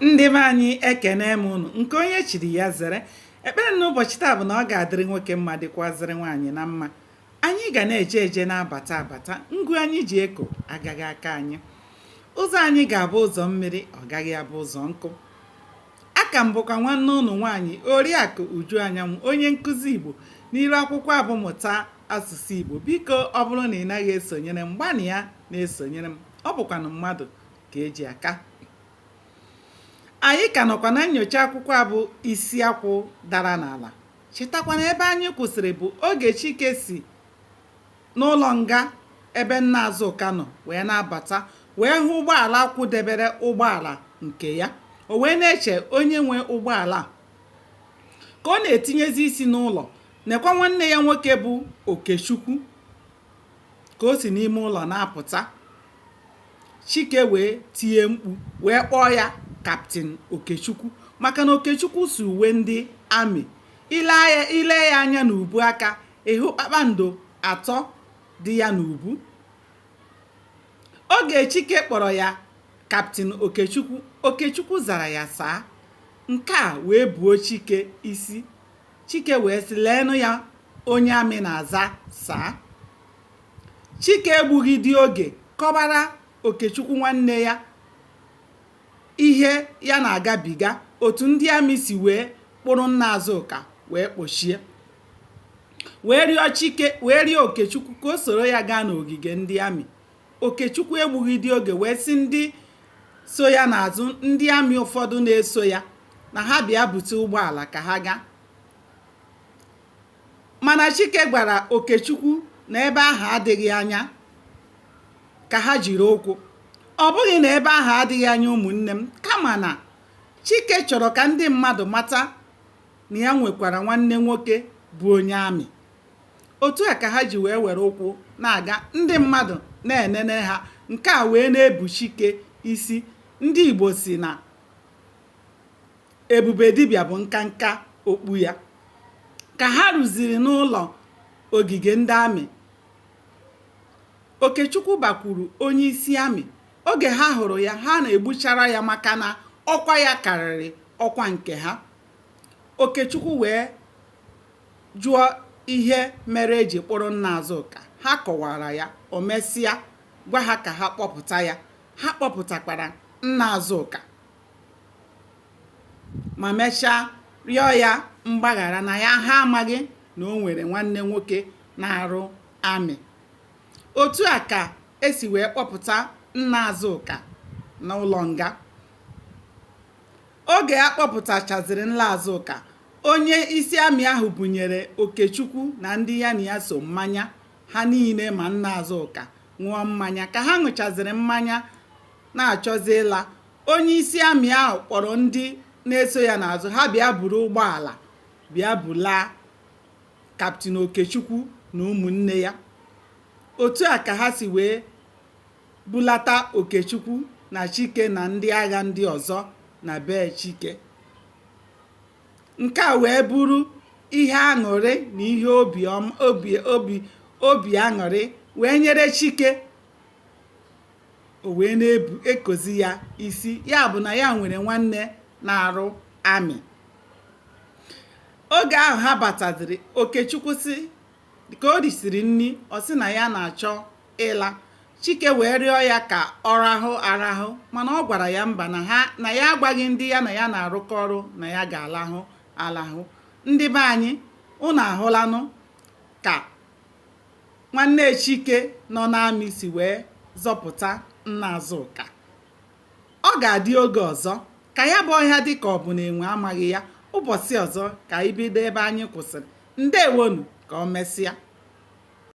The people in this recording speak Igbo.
ndị be anyị ekene m unu nke onye chiri ya zere ekpere n'ụbọchị taa bụ na ọ ga-adịrị nwoke mma dịkwazịrị nwaanyị na mma anyị ga na-eje eje na-abata abata ngụ anyị ji eko agaghị aka anyị ụzọ anyị ga-abụ ụzọ mmiri ọ gaghị abụ ụzọ nkụ aka m bụkwa nwanne unu nwaanyị oriakụ uju anyanwụ onye nkụzi igbo n'iru akwụkwọ a bụ mụta asụsụ igbo biko ọ bụrụ na ị naghị esonyere m gbanịa na-esonyere m ọ bụkwanụ mmadụ ka e ji aka anyị ka nọkwa na nyocha akwụkwọ a bụ isi akwụ dara n'ala chetakwa na ebe anyị kwụsịrị bụ oge chike si n'ụlọ nga ebe nna azụka nọ wee na-abata wee hụ ụgbọala kwụdebere ụgbọala nke ya o wee na-eche onye nwe ụgbọala ka ọ na-etinyezi isi n'ụlọ nekwa nwanne ya nwoke bụ okechukwu ka o si n'ime ụlọ na-apụta Chike wee tie mkpu wee kpọọ ya kaptịn Okechukwu maka na Okechukwu si uwe ndị amị i lee ya anya n'ubu aka ị hụ kpakpando atọ dị ya n'ubu oge Chike kpọrọ ya kaptịn Okechukwu Okechukwu zara ya saa nke a wee buo Chike isi Chike wee sị, Leenụ ya, onye amị na-aza saa. Chike egbughịdị oge kọbara Okechukwu nwanne ya ihe ya na-agabiga otu ndị amị si wee kpụrụ nna Azụka wee kpọchie wee rịọ Chike wee rịọ Okechukwu ka o soro ya gaa n'ogige ndị amị Okechukwu egbughịdị oge wee sị ndị so ya n'azụ ndị amị ụfọdụ na-eso ya na ha bịa bute ụgbọala ka ha gaa mana Chike gwara Okechukwu na ebe ahụ adịghị anya ka ha jiri ụkwụ ọ bụghị na ebe ahụ adịghị anya ụmụnne m kama na Chike chọrọ ka ndị mmadụ mata na ya nwekwara nwanne nwoke bụ onye amị Otu a ka ha ji wee were ụkwụ na-aga, ndị mmadụ na-enene ha, nke a wee na-ebu Chike isi. Ndị Igbo sị na ebube dibịa bụ nkanka okpu ya. Ka ha ruziri n'ụlọ ogige ndị amị, Okechukwu bakwuru onyeisi amị. Oge ha hụrụ ya, ha na-egbuchara ya maka na ọkwa ya karịrị ọkwa nke ha. Okechukwu wee jụọ ihe mere e ji kpọrọ nna Azụka. Ha kọwara ya, o mesịa gwa ha ka ha kpọpụta ya. Ha kpọpụtakwara nna Azụka ma mechaa rịọ ya mgbaghara na ya ha amaghị na o nwere nwanne nwoke na-arụ amị. Otu a ka e si wee kpọpụta nna Azụka n'ụlọ nga. Oge a kpọpụtachazịrị nna Azụka, onye isi amị ahụ bunyere Okechukwu na ndị ya na ya so mmanya. Ha niile ma Nna Azụka ṅụọ mmanya. Ka ha ṅụchazịrị mmanya na-achọzị ịla, onye isi amị ahụ kpọrọ ndị na-eso ya n'azụ ha bịa buru ụgbọala bịa bulaa Kaptịn Okechukwu na ụmụnne ya. Otu a ka ha si wee bulata Okechukwu na Chike na ndị agha ndị ọzọ na be Chike. Nke a wee bụrụ ihe aṅụrị na ihe obi obi aṅụrị wee nyere Chike o wee na-ekozi ya isi ya bụ na ya nwere nwanne na-arụ amị oge ahụ ha bataziri Okechukwu sị ka o risiri nri ọ sị na ya na-achọ ịla. Chike wee rịọ ya ka ọ rahụ arahụ mana ọ gwara ya mba na ha na ya agwaghị ndị ya na ya na-arụkọ ọrụ na ya ga-alahụ alahụ. Ndị be anyị, unu ahụlanụ ka nwanne Chike nọ n'amị si wee zọpụta nna Azụka. Ọ ga-adị oge ọzọ. Ka ya bụ ọhịa dị ka ọ bụ na enwe amaghị ya. Ụbọchị ọzọ ka anyị bido ebe anyị kwụsịrị. Ndewonụ, ka o mesịa.